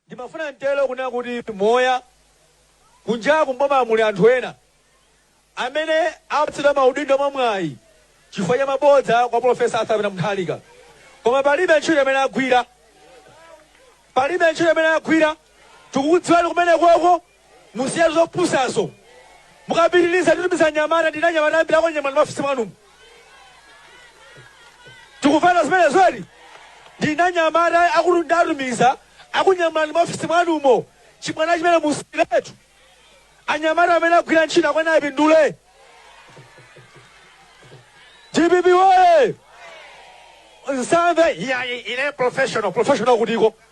Ndimafuna nthawi ino kunena kuti kuti kunjaku m'bomamu muli anthu ena amene apatsidwa maudindo mwa mwayi chifukwa cha mabodza kwa Polofesa Arthur Pita Munthalika koma palibe ntchito imene agwira, palibe ntchito imene agwira. Tikukudziwani kumenekoko. Musiye zopusazo. Mukapitiliza titumiza anyamata ndi anyamata ambiri akakunyamuleni m'maofesi mwanumo. Tikufuna zimenezo ndi anyamata akulu ndiwatumiza akunyamuleni m'maofesi mwanumo. Chibwana chimenecho musiyiretu. Anyamata amene agwira ntchito akuyenera apindule. DPP woye! Nsambe, yeah, ine professional, professional kutiko.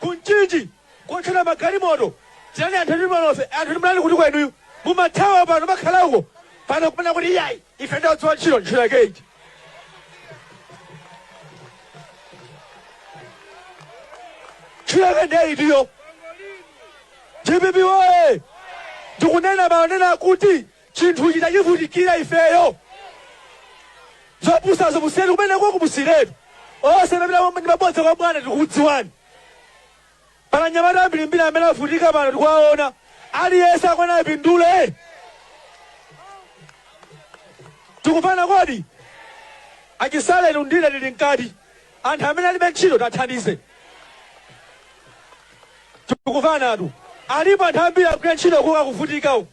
ku Mchinji kotchera magalimoto tirani anthu ndi malofe anthu ndi mlali kuti kwenuyu mumathawa pano makhala uko pano kupena kuti iyayi ife ndi odziwa ntchito ntchito yake iti ntchito yake ndiye iti iyo dpp woye ndikunena manena akuti chinthu chitativutikira ifeyo zopusazo musiyeni kumeneko musiyiretu onse amanena mabodza kwa bwana tikukudziwani pali anyamata ambirimbiri amene akuvutika pano tikuwaona aliyense akuyenera apindule tikufuna kuti achisaleni undile lili mkati anthu amene alibe ntchito tathandize tikufunatu alipo anthu ambiri akugwira ntchito kuka kuvutika uku